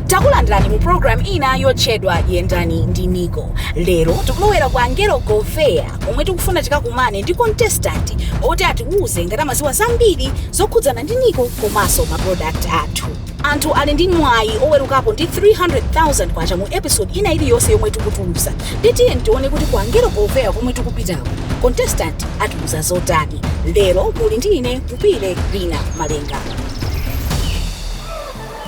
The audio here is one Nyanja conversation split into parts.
takulandirani mu programu ija yotchedwa yendani ndi niko lero tikulowera kwa angelo govea komwe tikufuna tikakumane ndi contestant oti atiwuze ngati amaziwa zambiri zokhudzana ndi niko komanso maprodakt athu Anthu ali ndi mwayi oweruka ndi K300,000 mu episode ina iliyonse yomwe tikutulusa nde tiyeni tione kuti ku Angelo Govea komwe tikupitaku contestant atiuza zotani. Lero muli ndi ine Kupile Lina Malenga.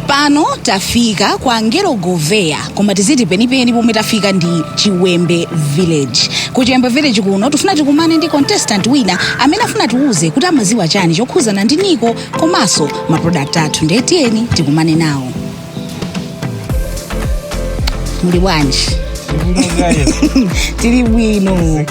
Pano tafika kwa Angelo Govea koma tiziti penipeni pomwe tafika ndi Chiwembe Village. Ku Chiwembe Village kuno tifuna tikumane ndi contestant wina amene afuna tiuze kuti amaziwa chani chokhuzana ndi Niko komanso maprodakti athu ndiye tiyeni tikumane nawo muli bwanji tili bwino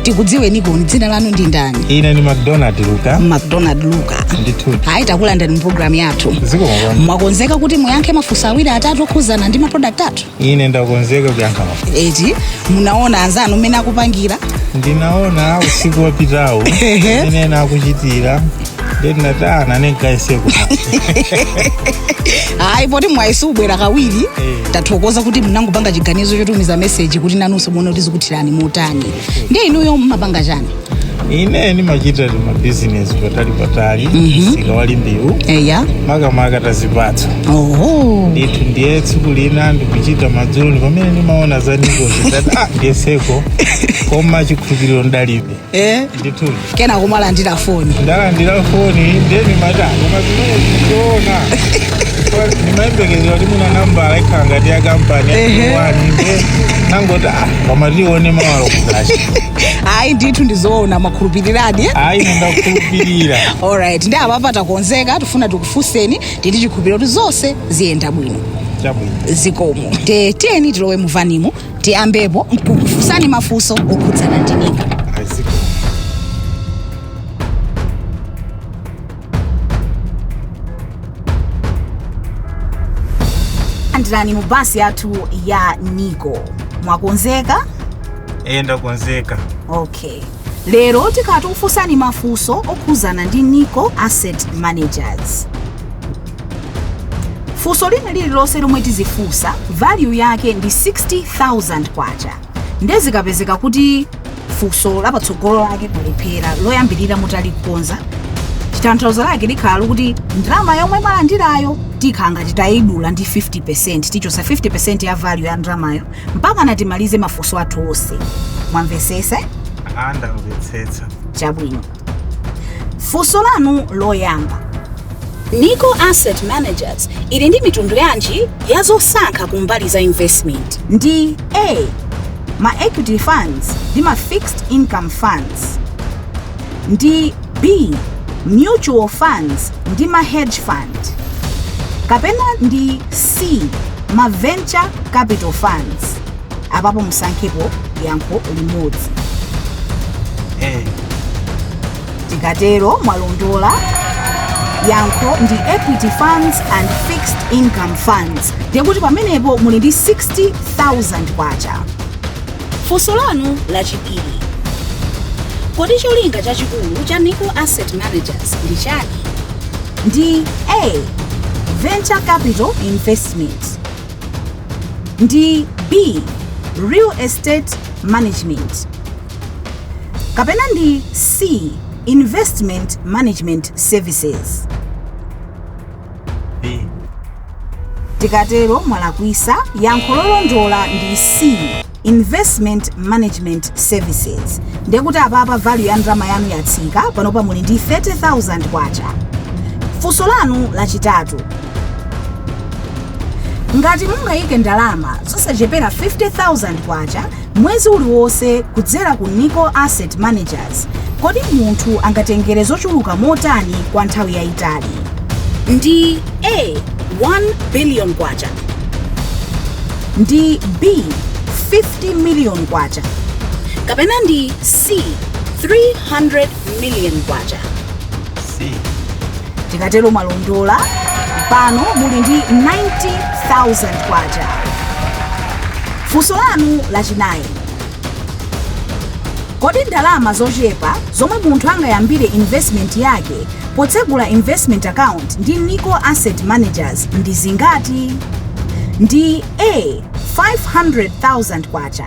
tikudziweniko dzina lanu ndi ndani ine ni macdonald luka macdonald luka ndithu ayi takulandirani mu programu yathu zikomo bwana mwakonzeka kuti muyankhe mafunso awiri atatu okhudzana ndi maprodakti athu ine ndakonzeka kuyankha mafunso eti munaona anzanu mmene akupangira ndinaona usiku wapitawu Ehe. ine nakuchitira ayi poti mwayesa ubwera kawiri tathokoza kuti mnangopanga chiganizo chotumiza meseji kuti nanunso muone kuti zikuthirani motani ndiye inuyo mmapanga chani ine ndimachita timabhizinesi patalipatali msika wa limbewu eya makamaka tazipatso oho ndithu ndiye tsiku lina ndikuchita madzulo ndi pamene ndimaona za nikozi ndati ah ndiyeseko koma chikhulupiriro ndalibe eh ndithu kenako malandira foni ndalandira foni nde nimati koma zimene zikuona ndimayembekezera kuti mwina nambala ikhala ngati ya kampani Ehe. yaani nde nangoti ah koma tione mathero ake ayi ndithu ndizoona makhulupiriradi eh? ayi ndakhulupirira alright nde apapa takonzeka tifuna tikufunseni ndi chikhulupiriro kuti zonse ziyenda bwino chabwino zikomo nde tiyeni tilowe muvanimo tiyambepo mkukufunsani mafunso okhudzana ndi nico takulandirani mu basi yathu ya nico mwakonzeka ee ndakonzeka okay Lero tikhala tikufunsani mafunso okhuzana ndi Nico Asset Managers. Funso lina lililonse lomwe tizifunsa value yake ndi 60,000 kwacha. Nde zikapezeka kuti funso la patsogolo lake mwalephera loyambirira mutalikhonza chithanthauzo lake likhala lokuti ndalama yomwe mwalandirayo tikhala ngati tayidula ndi 50% tichosa 50% ya value ya ndalamayo mpakana timalize mafunso athu onse mwamvesese Ah, ndamvetsetsa chabwino funso lanu loyamba nico asset managers ili ndi mitundu yanji ya zosankha ku mbali za investment ndi a ma equity funds ndi ma fixed income funds ndi B. Mutual funds ndi ma hedge fund kapena ndi C. Ma venture capital funds. Apapo musankhepo yankho limodzi. A. Tikatero mwalondola yankho ndi equity funds and fixed income funds nde kuti pamenepo muli ndi 60000 kwacha Funso lanu lachiwiri. Kodi cholinga chachikulu cha Nico Asset Managers ndi chani? Ndi A. Venture Capital Investment Ndi B. Real Estate Management Kapena ndi C. Investment Management Services B. tikatero mwalakwisa yankho lolondola ndi c investment management services ndiye kuti apapa value ya ndalama yanu yatsika panopa muli ndi 30000 kwacha funso lanu lachitatu ngati mungayike ndalama zosachepera 50000 kwacha Mwezi uliwonse kudzera ku Nico Asset Managers, kodi munthu angatengere zochuluka motani kwa nthawi yayitali? Ndi A, 1 billion kwacha. Ndi B, 50 million kwacha. Kapena ndi C, 300 million kwacha tikatero mwalondola pano muli ndi 90000 kwacha funso lanu lachinayi kodi ndalama zochepa zomwe munthu angayambire investment yake potsegula investment account ndi nico asset managers ndi zingati ndi a 500000 kwacha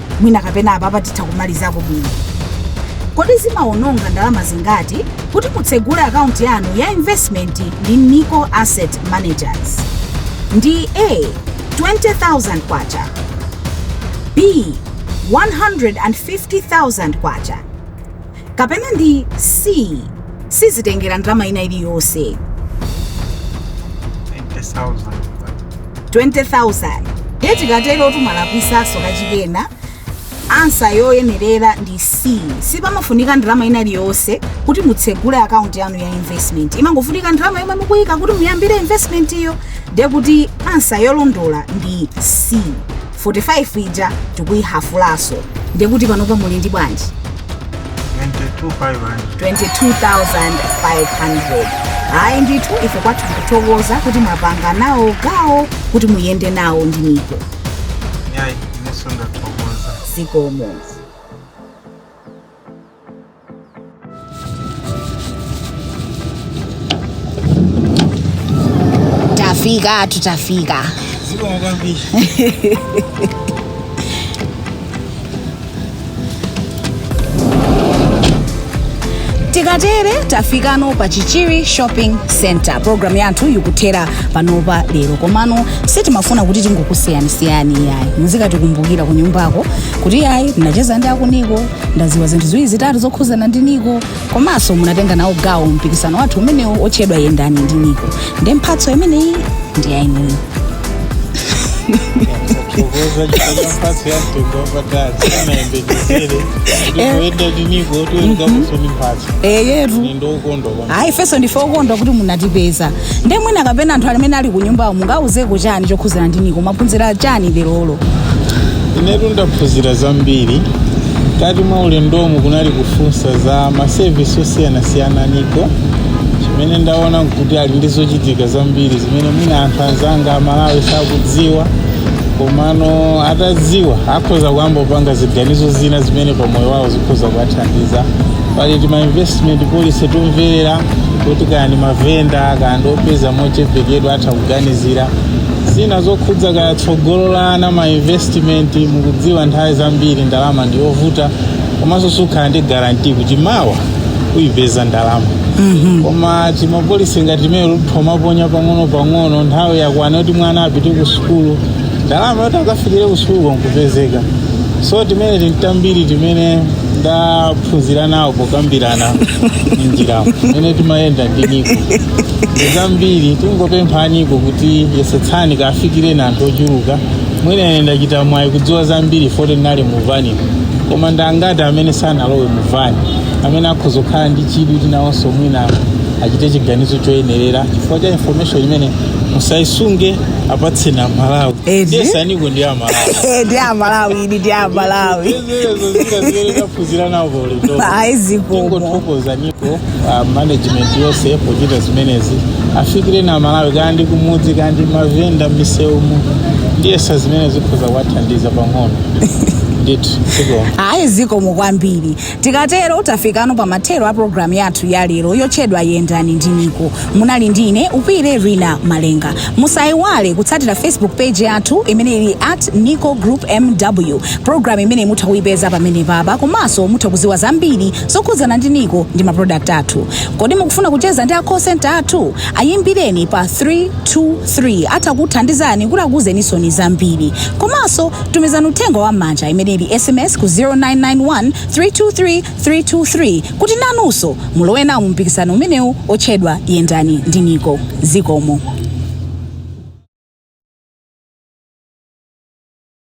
mwina kapena apapa titha kumalizako bwino kodi zimawononga ndalama zingati kuti mutsegule akaunti yanu ya investment ndi nico asset managers ndi a 20000 kwacha b 150000 kwacha kapena ndi C. Sizitengera ndalama ina iliyonse. 20,000. 20,000 ndiye tikatero tumalakwisaso kachikenaso ansa yoyenerera ndi c sipamafunika ndalama ina iliyonse kuti mutsegule akaunti yanu ya investment imangofunika ndalama yomwe mukuyika kuti muyambire investment iyo ndiye kuti ansa yolondola ndi c 45 ija tikuyihafulaso ndiye kuti panopa muli ndi bwanji 22500 ayi ndithu ife kwathu tikuthokoza kuti mwapanga nawo gawo kuti muyende nawo ndi niko yayi ineso ndathokoza zikomo tafika tutafika zikomo kwambiri tikatere tafikano pa chichiri shopping center programu yathu yikuthera panopa lero komano sitimafuna kuti tingokusiyanisiyani yayi muzikatikumbukira ku nyumbako kuti yayi ndinacheza ndi akuniko ndaziwa zinthu ziwiri zitatu zokhuzana ndi niko komanso munatenga nawo gawo mpikisano wathu umenewu otchedwa yendani ndi niko ndiye mphatso imeneyi ndi yainuyo kuthokoza chifukwa mphatso ya mtundu wapatali sindinayembekezere ndikuyenda ndiniko otiweza kusoni mphatso eyetu ni ndokondwa ayi ifenso ndife okondwa kuti munatipeza nde mwina kapena anthu amene ali kunyumbawo mungawauzeko chani chokhuzana ndi niko mwaphunzira chani lerolo inetu ndaphunzira zambiri mkati mwa ulendomu kunali kufunsa za masevisi osiyanasiyana niko chimene ndaona kuti ali ndi zochitika zambiri zimene mwina anthu anzanga aMalawi sakudziwa komano atadziwa akhoza kuyamba kupanga ziganizo zina zimene pamoyo wawo khoza kuwathandiza pali tima investment policy tomvera kuti kaya ndi mavenda kaya ndi opeza mochepekedwa atha kuganizira zina zokhudza kaya tsogolo la ana ma investment mukudziwa nthawi zambiri ndalama ndi yovuta komanso sukhala ndi garanti kuti mawa uyipeza ndalama koma timapolisi ngati timeneto utha kumaponya pang'ono pang'ono nthawi yakwana kuti mwana apite ku sukulu ndalama yoti akafikire kusukuluko nkupezeka so zimene zambiri zimene ndaphunzira nawo pokambirana njiramo imene timayenda ndi niko ndizambiri tingopempha aniko kuti yesetsani kafikireni anthu ochuluka mwina ine ndachita mwayi kudziwa zambiri poti ndinali muvani koma ndangati amene sanalowe muvani amene akhoza kukhala ndi chidwi kuti nawonso mwina achite chiganizo choyenerera chifukwa cha information imene musayisunge apatseni amalawi Eti? ndiyesa niko ndi amalawi Eh, ndi amalawi idi ndi amalawi eya izo zina zimene taphunzira nawo paulendo ayi zikomo tingothokoza niko ah, management yonse pochita zimenezi afikireni amalawi kaya ndi kumudzi kaya ndi mavenda m'misewumu ndiyesa zimenezi zikhoza kuwathandiza pang'ono ndithu zikomo ayi zikomo kwambiri Tikatero tafikano pa mathero a program yathu ya lero yotchedwa yendani ndi Niko. Munali ndi ine Upile Rina Malenga. Musaiwale kutsatira Facebook page yathu imene ili at Niko Group MW. Program imeneyi mutha kuipeza pamenepapa komanso mutha kuziwa zambiri zokhudzana ndi Niko ndi ma product athu. Kodi mukufuna kucheza ndi a call center athu? Ayimbireni pa 323 atha kuthandizani kuti akuuzeninsoni zambiri. Komanso Tumizani uthenga wa m'manja, imene ili sms, ku 0991 323 323 kuti nanunso mulowe nawo mu mpikisano umenewu otchedwa Yendani ndi Nico. Zikomo.